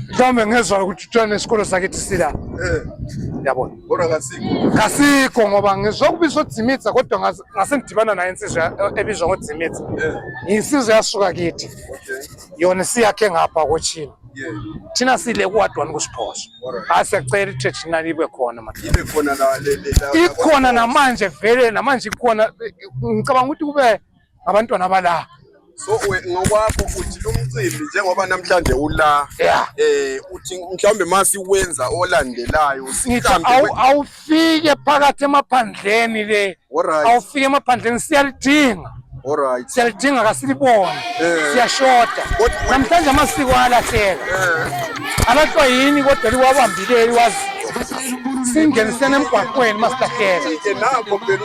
mhlawumbe ngezwa ukuthi kuthiwa nesikolo sakithi sila eh. yabona kodwa kasikho kasikho ngoba ngizwa kubizwa udzimitsa kodwa ngase ngidibana naye insizwa ebizwa ngodzimitsa eh. insizwa yasuka kithi yona siyakhe ngapha kochini thina sile kuward one kusiphoso hayi siyacela i-traditional ibe khona ikhona namanje vele namanje ikhona ngicabanga ukuthi kube abantwana bala so ngokwakho uthi lumcimbi njengoba namhlanje ula yeah. eh uthi mhlawumbe masi wenza olandelayo awufike phakathi emaphandleni le awufike emaphandleni siyalidinga Alright. Siyalidinga kasilibone. Eh. Siyashoda. Namhlanje amasiko ayalahleka. Eh. Alahlwa yini kodwa liwabambileyo wazi. Singenisene emgwaqweni masilahleka. Nabo phela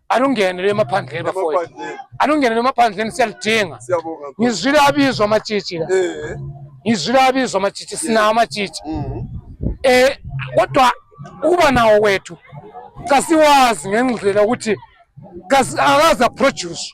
anungene lemaphandleni bafowethu anungene lemaphandleni siyalidinga ngizwile abizwa amatshitshi la eh. ngizwile abizwa amatshitshi sinawo amatshitshi um mm. eh, kodwa ukuba nawo wethu kasiwazi ngendlela ukuthi akazi aproduce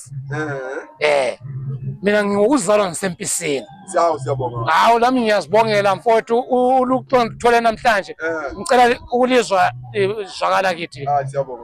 eh mina ngingokuzalwa ngisempisini siyawu siyabonga hawu lami ngiyazibongela mfowethu uluxondo thole namhlanje ngicela ukulizwa izwakala kithi siyabonga